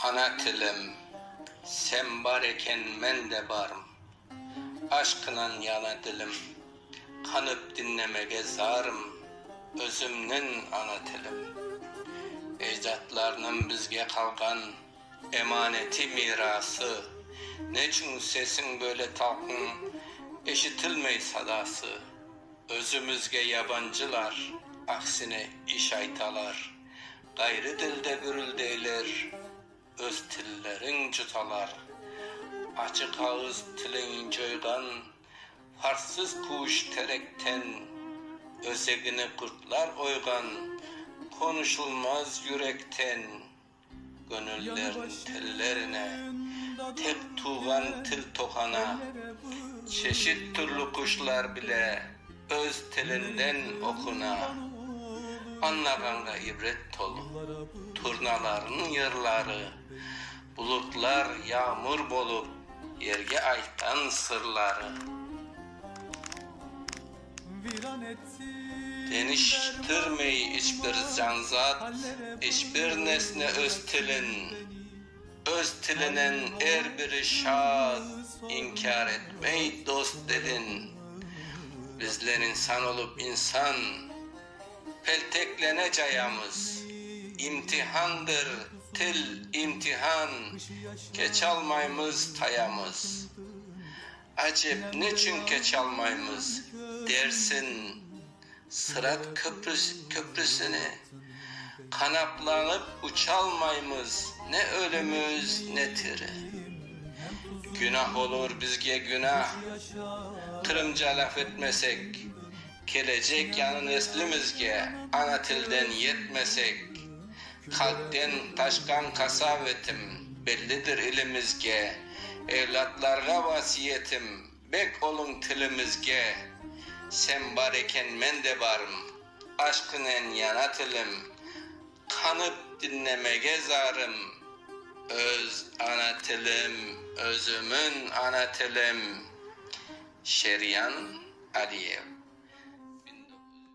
Ana tilim, sen bar eken, men de barım, Aşqınan yana dilim, qanıp diñlemege zarım, Özümniñ ana tilim. Ecdatlarnıñ bizge qalğan emaneti, mirası, Neçün sesiñ böyle talqın, eşitilmey sadası? Özümizge yabancılar, aksine, iş aytalar, ğayrı dilde gürüldeyler, öz tillerin cutalar. Açıq ağız tilin coyğan farssız kuş terekten, özegini qurtlar oyğan, qonuşulmaz yürekten. Köñüllerniñ tellerine tek tuvğan til toqana. Çeşit türlü quşlar bile öz tilinden oquna. Añlağanğa ibret tolu turnalarnıñ yırları, bulutlar yağmur bolıp yerge aytqan sırları. Deñiştirmey iç bir canzat, iç bir nesne öz tilin, Öz tilinen er biri şad, inkâr etmey dost dedin. Bizler insan olıp insan, pelteklene cayamız, İmtihandır til, imtihan, keçalmaymız, tayamız. Acep, neçün keç almaymız dersiñ? Sırat köprüsine qanatlanıp uçalmaymız, ne ölümüz, ne tiri. Günah olur bizge, günah! Qırımca laf etmesek, kelecek yañı neslimizge ana tilden yetmesek, Hadden taşqan qasav etim, Bellidir ilimizge. Evlâtlarğa vasiyetim, Bek oluñ tilimizge. Sen bar eken, men de barım, Aşqınen yana tilim, Qanıp diñlemege zarım, Öz ana tilim, özümiñ ana tilim. Şeryan Aliyev.